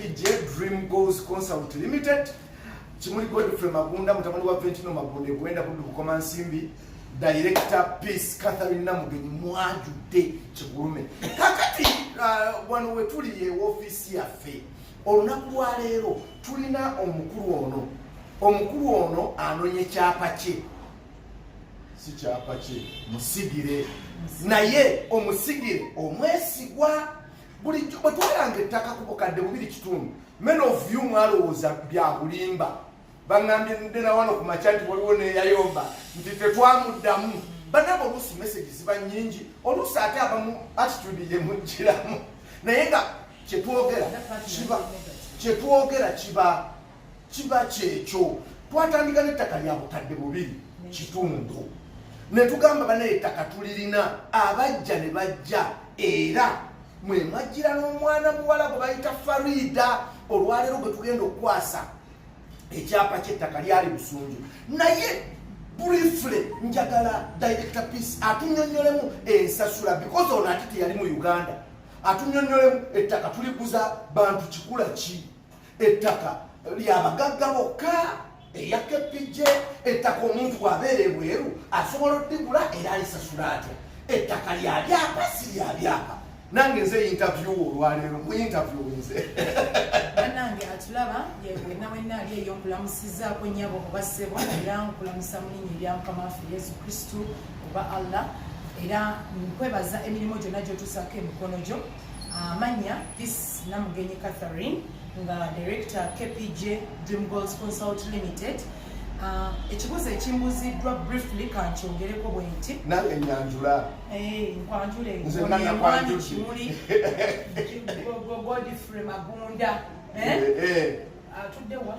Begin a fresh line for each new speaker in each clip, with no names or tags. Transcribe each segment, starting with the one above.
PJ Dream Goals Consult Limited Kimuli Godfrey Magunda mutabani wa Ventino Magunda ekwenda kudu kukoma nsimbi Director Peace Catherine Namugenyi mwajudde kigulume kakati uh, wano wetuli ye ofisi yaffe olunaku lwa leero tulina omukulu ono omukulu ono anonye kyapa kye si kyapa kye musigire naye omusigire omwesigwa bulijjo bwe twalanga ettaka ku bukadde bubiri kitundu men of you mwalowooza bya bulimba baŋambye nde na wano ku makya nti waliwo neyayomba nti tetwamuddamu banaba oluusi message ziba nyingi oluusi ate abamu attitude yemujjiramu naye nga kyetwogera kiba kyetwogera kiba kiba kyekyo twatandika n'ettaka lya bukadde bubiri kitundu ne tugamba banaye ettaka tulirina abajja ne bajja era mwe mwajjira n'omwana muwala gwe bayita farida olwaleero gwe tugenda okukwasa ekyapa ky'ettaka lyali busunju naye briefly njagala director peace atunyonyolemu ensasula because ono ati teyali mu uganda atunyonyolemu ettaka tuliguza bantu kikula ki ettaka lyabagagga bokka eya kepijje ettaka omuntu bwabeera ebweru asobola odigula era alisasula atya ettaka lya byapa si lya byapa nange nze yintavyu olwaleero muyintavyu nze banange
atulaba yewena wena ali eyo nkulamusizaako nyabo oba ssebo era nkulamusa mulinya ebyamukama waffe yesu kristu oba allah era nkwebaza emirimu gyonna gyotusaako emikono gyo amanya ah, this namugenyi catherine nga director kpj dream goals consult limited ah, ekibuzo ekimbuziddwa briefly kankyogereko bwenti nange nyanjula
eh,
nkwanjuleemuli godfrey magunda eh? eh, atuddewa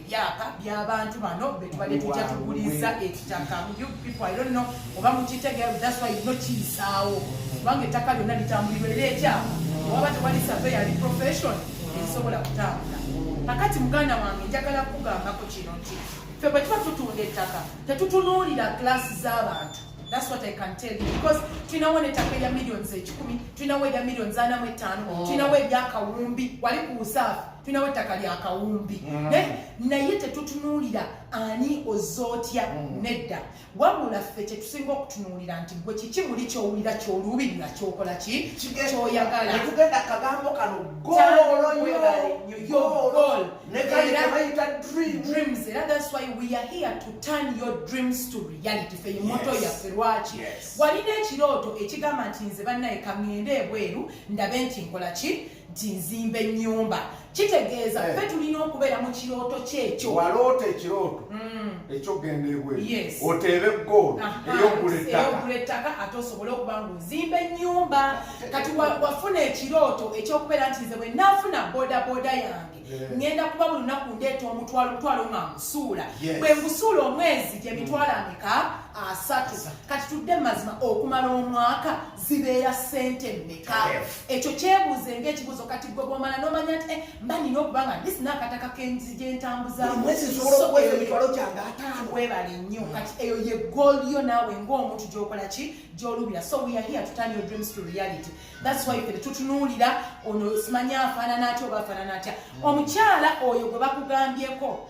byapa byabantu bano betubadde tujja tuguliza ekitaka oba mukitegeerasino kiyisaawo kubanga ettaka lyonna litambulirwa era ekyapa waba tewali save yali profession ezisobola kutambula kakati muganda wange njagala kukugambako kino nti fe bwe tuba tutunda ettaka tetutunuulira kilasi z'abantu That's what I can tell you because tulinawo netaka erya millions ekikumi tulinawo erya millions ana mu ettaano tulinawo erya kawumbi wali ku usaafu tulinawo ettaka lya kawumbi mm. naye tetutunuulira ani oza otya mm. nedda wabula ffe kyetusinga okutunuulira nti gwe kiki muli kyowulira kyoluubirira kyokola ki kyoyagala tugenda kagambo
kano
dreams era that's why we are here to turn your dreams to reality fe emoto yaffe lwaki walina ekirooto ekigamba nti nze bannaye kangende ebweru ndabe nti nkola ki nti nzimba ennyumba kitegeeza eh. fe tulina okubeera mu kirooto kyekyo waloota ekirooto
mm. ekyokugenda ebweru oteebe goolo eyokugula ettaka ate osobole
okuba nga ozimba ennyumba kati wafuna ekirooto ekyokubeera nti nze bwe nafuna bodaboda yange ngenda kuba buli lunaku ndeeta omutwalo omutwalo nga nkusuula bwe nkusuula omwezi gye mitwalo ameka asatu kati tudde mu mazima okumala omwaka zibeera sente mmeka ekyo kyebuuze ngaekibuuzo kati gwe bwomala nomanya nti eh, mba nina okuba nga ndi sina akataka kenzi gyentambuzamuwebale nnyo mm. kati eyo ye gool yo naawe ngaomuntu gyokola ki gyolubira so weare here to turn your dreams to reality That's why fere tutunuulira ono simanyi afaanana atya oba afaanana atya mm. omukyala oyo gwe bakugambyeko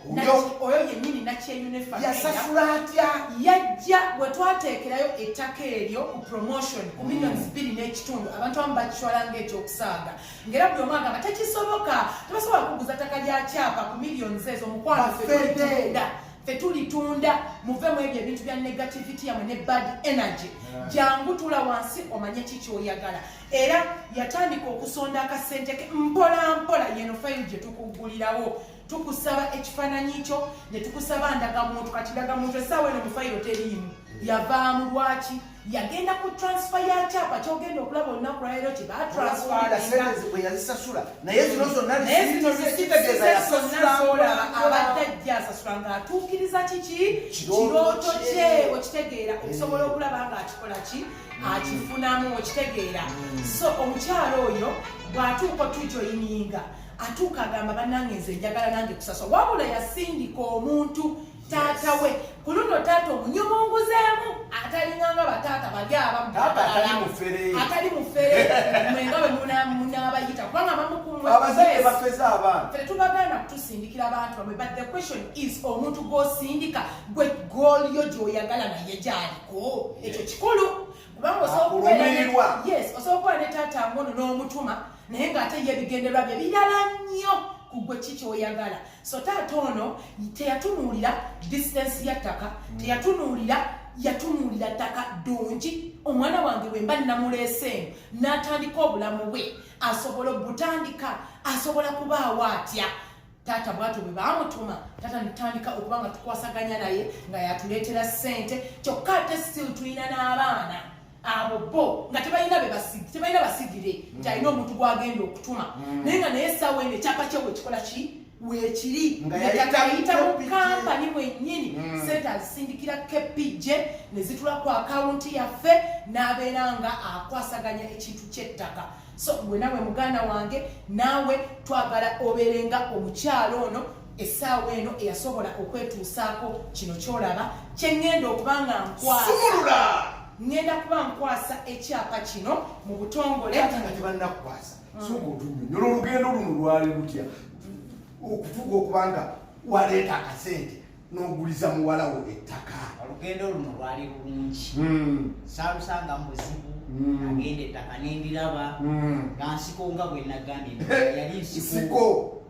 oyo yennyini nakyeyunefayasasula atya
yajja bwe
twateekerayo ettaka eryo ku promotion ku mm. millions bbiri n'ekitundu abantu abamu bakitwala ngaekyokusaaga ngaera buli omu agamba tekisoboka tebasobola kuguza ttaka lya kyapa ku millions ezo omukwano fedda fetulitunda muve mu ebyo ebintu bya negativity yamwe ne bad energy jangu tula wansi omanye ki kyoyagala era yatandika okusonda akasente ke mpola mpola yeno fayiro gye tukugulirawo tukusaba ekifaananyi kyo ne tukusaba ndagamuntu kati ndagamuntu esaawa eno mu fayiro teriimu yavaamu lwaki yagenda ku transfer ya kyapa kyogenda okulaba olunaku lwaleero kye batransferyazisasula naye
zino zonnaolaba abadde ajja
asasula ng'atuukiriza kiki kirooto kye okitegeera okusobola okulaba ng'akikola ki akifunamu okitegeera mm. so omukyalo oyo bw'atuuka otujoyininga atuuka agamba banange nze njagala nange kusasula wabula yasindika omuntu taata we ku luno taata omunyumunguzemu atalinganga bataata bali abamuatali mufere mwenga wemunabayita kubanga bamukumwebafeza
abaana fere tubagana
kutusindikira abantu bamwe but the question is omuntu gwosindika gwe gool yo gyoyagala naye gyaliko ekyo kikulu kubanga osobola okubeera ne taata ngono n'omutuma naye ng'ate ye ebigenderwa bye birala nnyo ku gwe ki kyoyagala so taata ono teyatunuulira distance ya ttaka hmm. teyatunuulira yatunuulira ttaka ddungi omwana wange bwe mba nnamuleeseemu n'atandika obulamu bwe asobola obutandika asobola kubaawo atya taata bwatyo bwe baamutuma taata nitandika okuba nga tukwasaganya naye nga yatuleetera ssente kyokka ate still tulina n'abaana abo bo nga tebalina bebasigi tebalina basigire mm. nti alina omuntu gwagenda okutuma mm. naye nga naye esawa eno ekyapa kye wekikola ki wekiri nekatayita mu kampani mwenyini mm. sente azisindikira kpj nezitula ku akawunti yaffe n'abeera nga akwasaganya ekintu ky'ettaka so gwe nawe muganda wange naawe twagala obeerenga omukyalo ono essaawa eno eyasobola okwetuusaako kino kyolaba kyengenda okuba nga nkwasumulula ngenda kuba nkwasa ekyapa kino mu butongole ate nga tebanakukwasa
mm. soka otunyonyola olugendo luno lwali lutya okutuuka okuba nga waleeta akasente n'oguliza muwalawo ettaka olugendo luno
lwali lulungi mm. saalusanga mu buzibu mm. agenda ettaka nendiraba nga nsiko nga bwenagambye yali nsiko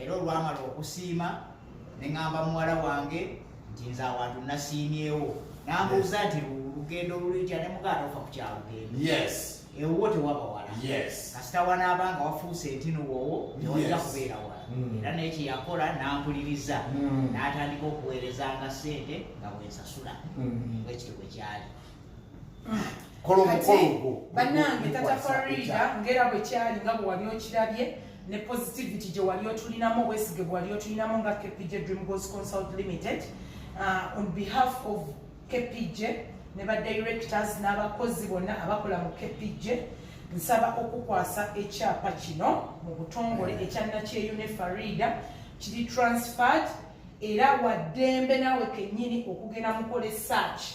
era olwamala okusiima ne ŋamba muwala wange nti nze awantu nasiimyewo nambuuza nti lugendo lulitya ne mugaata ofa ku kyalugendo ewuwo tewaba wala kasita wanaaba nga wafuuse ntino wowo tewajja kubeera wala hmm. era naye kyeyakola nampuliriza hmm. natandika okuweerezanga sente nga bwensasula hmm. ekyo bwekyali
bannange tata farida ngaera bwe kyali nga bwe wali okirabye ne positivity gye wali otulinamu obwesige bwe wali otulinamu nga kpj dream goals consult limited uh, on behalf of kpj ne ba directors n'abakozi bonna abakola mu kpj nsaba okukwasa ekyapa kino mu butongole ekyannakyeyune farida kiri transferred era waddembe naawe kennyini okugenda mukola esaaki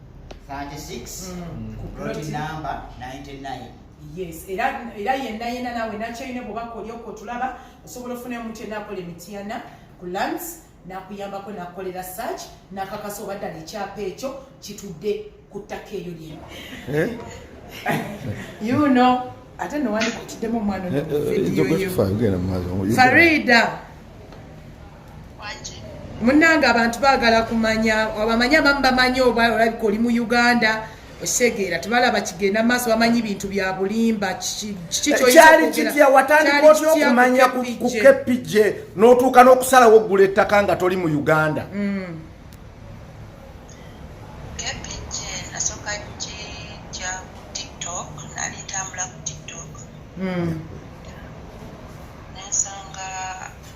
36
mm. ku plot number 99 yes era
era yenna yenna nawe nakyoyina bwoba kolyoko otulaba osobola ofuna omuntu yenna akola emityana ku lands nakuyambako nakukolera search nakakasa oba ddala ekyapa ekyo kitudde ku ttaka eyo lyeno eh? you know ate nowandikutiddemu omwana eh, eh, farida munange abantu bagala kumanya abamanya abamu bamanyi oba olabika oli mu uganda osegeera tebalaba kigenda maaso bamanyi bintu bya bulimba kikyali
kitya watandika otya okumanya ku kpj n'otuuka n'okusalawo oggula ettaka nga toli mu uganda
mm. Mm.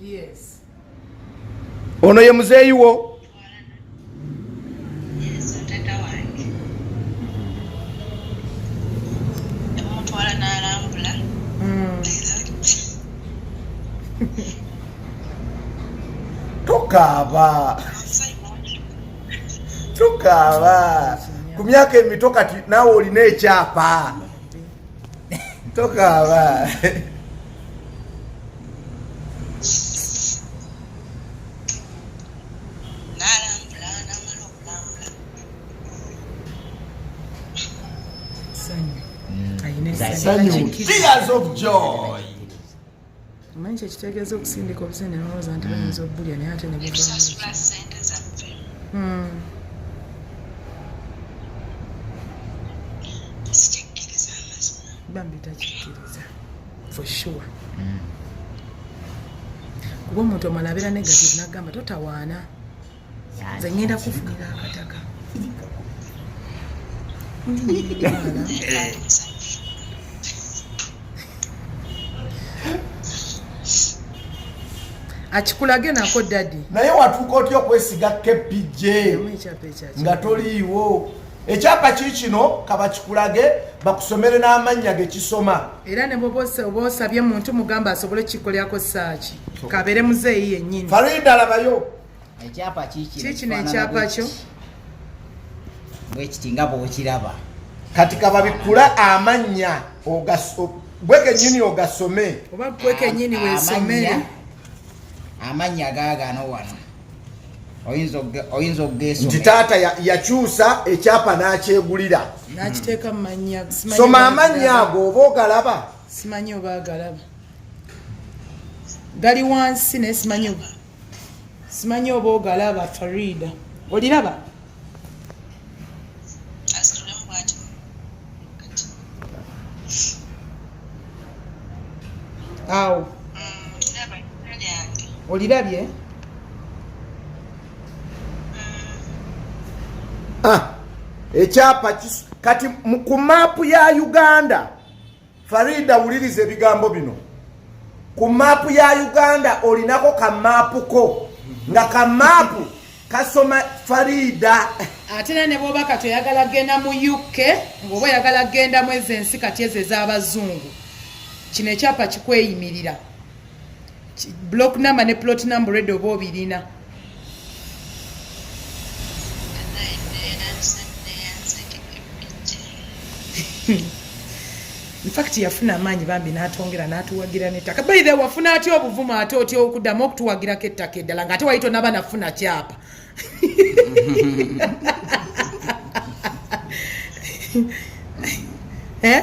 yes ono ye muzeeyi wo
tukaaba
tukaaba ku myaka emito kati naawe olina ekyapa tokaaba Tears of joy.
omanyi kyekitegeeza okusindika obusente nolowooza nti bayinza okubulya naye ate nebubamuzikikiriza hmm. bambi takikiriza for sure hmm. kuba omuntu omala abeera negative nagamba totawaana nze ngenda kufunira akataka akikulage nako dadi naye watuuka otya
okwesiga kpj nga toliiwo ekyapa ki kino kabakikulage bakusomere n'amannya gekisoma era
nebobosabye muntu mugamba asobole kikolerako saaki kabere muzeeyi yennyini farida labayo
ekyapa
kikino ekyapa
kyo bwekiti
nga bwokiraba kati
kababikkula amannya gwe kenyini ogasome oba gwe kenyini
wesomere
amannya gaagano wano oyinza okugeesa nti taata
yakyusa ekyapa n'akyegulira n'akiteeka mu
mannya soma amannya
ago oba ogalaba simanyi oba
agalaba gali wansi naye simanyi oba simanyi oba ogalaba farida oliraba awo mm, olirabye
ah, ekyapa kati ku maapu ya uganda Farida wuliriza ebigambo bino. Ku maapu ya Uganda olinako ka maapu ko nga ka maapu kasoma Farida. Ate era ne
bwoba kati oyagala genda mu UK ng'oba oyagala genda mu ezo ensi kati ezo ez'abazungu kino ekyapa kikweyimirira. block number ne plot number ready oba obirina infact yafuna amaanyi bambi n'atwongera n'atuwagira n'ettaka baithe wafuna atya obuvumu ate otya okuddamu okutuwagirako ettaka eddala nga ate wayita onaba nafuna kyapa eh?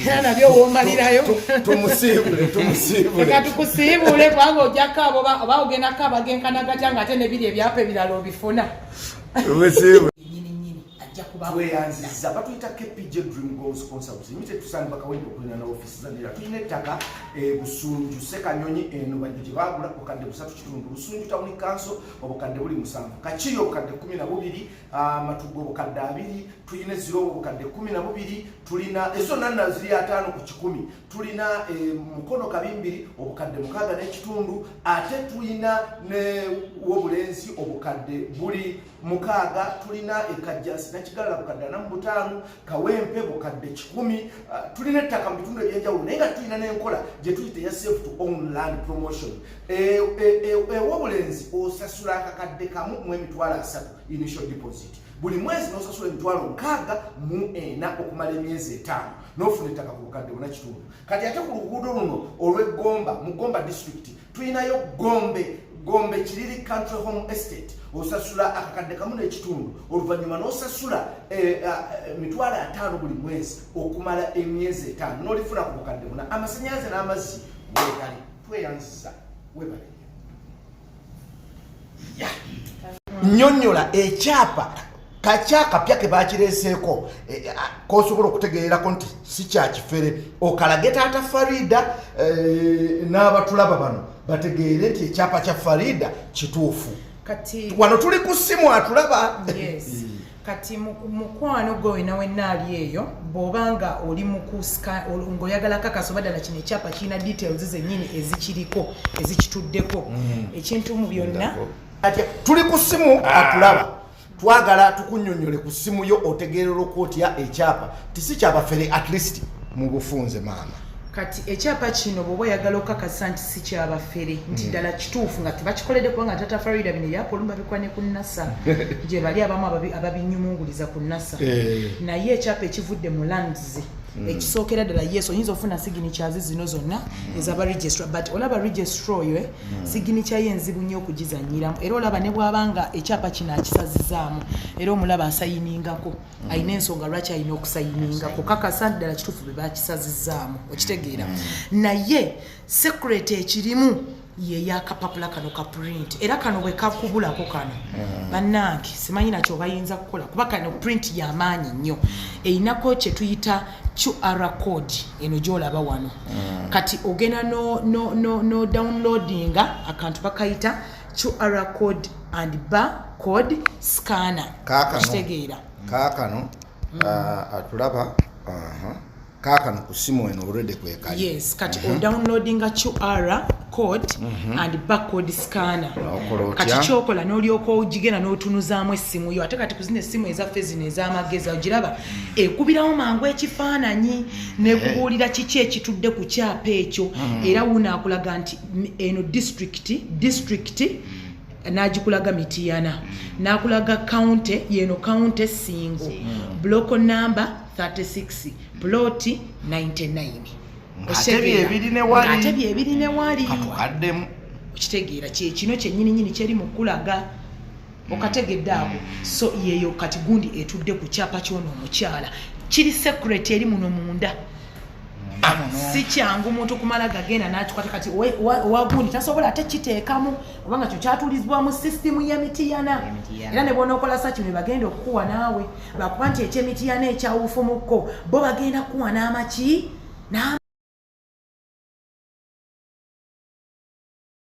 era nabyo womalirayo eka tukusiibule kubanga ojjako abo oba ogendako abagenkana gatya nga ate nebiri ebyapa ebirala obifuna tweyanziza
batuyita kpj dream goals consults mite tusanga bakawenda okulina na ofisi zanira tulina ettaka e, busunju sekanyonyi eno bajjo gye bagula obukadde busatu kitundu busunju tawuni kanso obukadde buli musanvu kakiyo obukadde kumi na bubiri amatu g'obukadde abiri tulina ezira obukadde kumi na bubiri tulina ezo nanna ziri ataano ku kikumi tulina eh, mukono kabimbiri obukadde mukaaga n'ekitundu ate tulina ne wobulenzi obukadde buli mukaaga tulina ekajjansi nakigalala bukadde anamu butaano kawempe bukadde kikumi uh, tulina ettaka mu bitundu ebyenjawulo naye nga tulina n'enkola gye tuyita eya safe to own land promotion ewobulenzi e, e, e, osasula akakadde kamu mu emitwalo asatu initial deposit buli mwezi nosasula emitwalo nkaaga mu ena okumala emyezi etaano nofuna ettaka ku bukadde bona kitundu kati ate ku luguudo luno olw'eggomba mu gomba disitulikiti tulinayo gombe gombe kiriri country home estate osasula akakadde kamu n'ekitundu oluvannyuma n'osasula eh, eh, eh, mitwalo ataano buli mwezi okumala emyezi etaano n'olifuna ku bukadde buna amasanyalaze n'amazzi wegali tweyanziza webale nyonyola ekyapa kakyakapya kebakireseeko eh, eh, ah, kosobola okutegeerako nti si kyakifere okalage taata farida eh, n'abatulaba bano bategeere nti ekyapa kya farida kituufu wano
tuli ku simu
atulaba
kati mukwano gwe wena wenna ali eyo bwoba nga oli mukusingaoyagala kakasa oba ddala kino ekyapa kirina details zenyini ezikiriko ezikituddeko mm. ekintu mu byonna tuli ku
simu ah. atulaba twagala tukunyonyole ku simu yo otegeerera okwotya ekyapa tisi kyabafere at least mu bufunze maama kati ekyapa
kino bwoba oyagala okakasa nti si kyabafere nti mm. ddala kituufu nga tebakikolede kubanga tata farida bino ebyapolu babikwa ne ku nasa gye bali abamu ababinyumunguliza ku nasa eh. naye ekyapa ekivudde mu lands mm. ekisookera ddala yes oyinza ofuna siginikyazi zino zonna mm. ezaba registra but olaba registra oyo eh, siginikya ye enzibu nnyo okugizanyiramu era olaba ne bwabanga ekyapa kino akisazizaamu era omulaba asayiningako alina ensonga lwaki alina okusayininga kukakasa nti ddala kituufu be bakisazizaamu okitegeera mm. naye sekureti ekirimu yeyakapapula kano ka print era kano bwe kakubulako kano mm. bannange simanyi nakyo bayinza kukola kuba kano print yamaanyi nnyo erinako kye tuyita qr code eno gyolaba wano mm. kati ogenda no, no, no, no downloadinga akantu bakayita qr code and bar code scanner kakitegeera kaakano
mm. uh, atulaba uh -huh. kaakano ku simu eno olwedde kwekali yes kati mm -hmm.
odownloadinga qr code mm -hmm. and bacode scanner kati kyokola nolyoka ogigenda notunuzaamu essimu yo ate kati kuzina essimu ezaffe zino ezamagezi ogiraba mm. ekubirawo mangu ekifaananyi nekubuulira eh. kiki ekitudde ku kyapa ekyo mm. era wunaakulaga nti eno disitulikiti disitulikiti n'agikulaga mitiyana n'akulaga kawunte yeno kawunte singo buloko namba 36 puloti 99
ate byebiri ne wali okitegeera
kyekino kyenyini nyini kyeri mu kulaga okategedde ako so yeyo kati gundi etudde ku kyapa kyono omukyala kiri secret eri muno munda ah, si kyangu muntu kumala gagenda natukwata kati wagundi tasobola ate kiteekamu obanga kyo kyatulizibwa mu sisitimu yemitiyana era ne bonaokola saki ne bagenda okukuwa naawe bakuba nti ekyemitiyana ekyawufumukko bo bagenda kukuwa n'amaki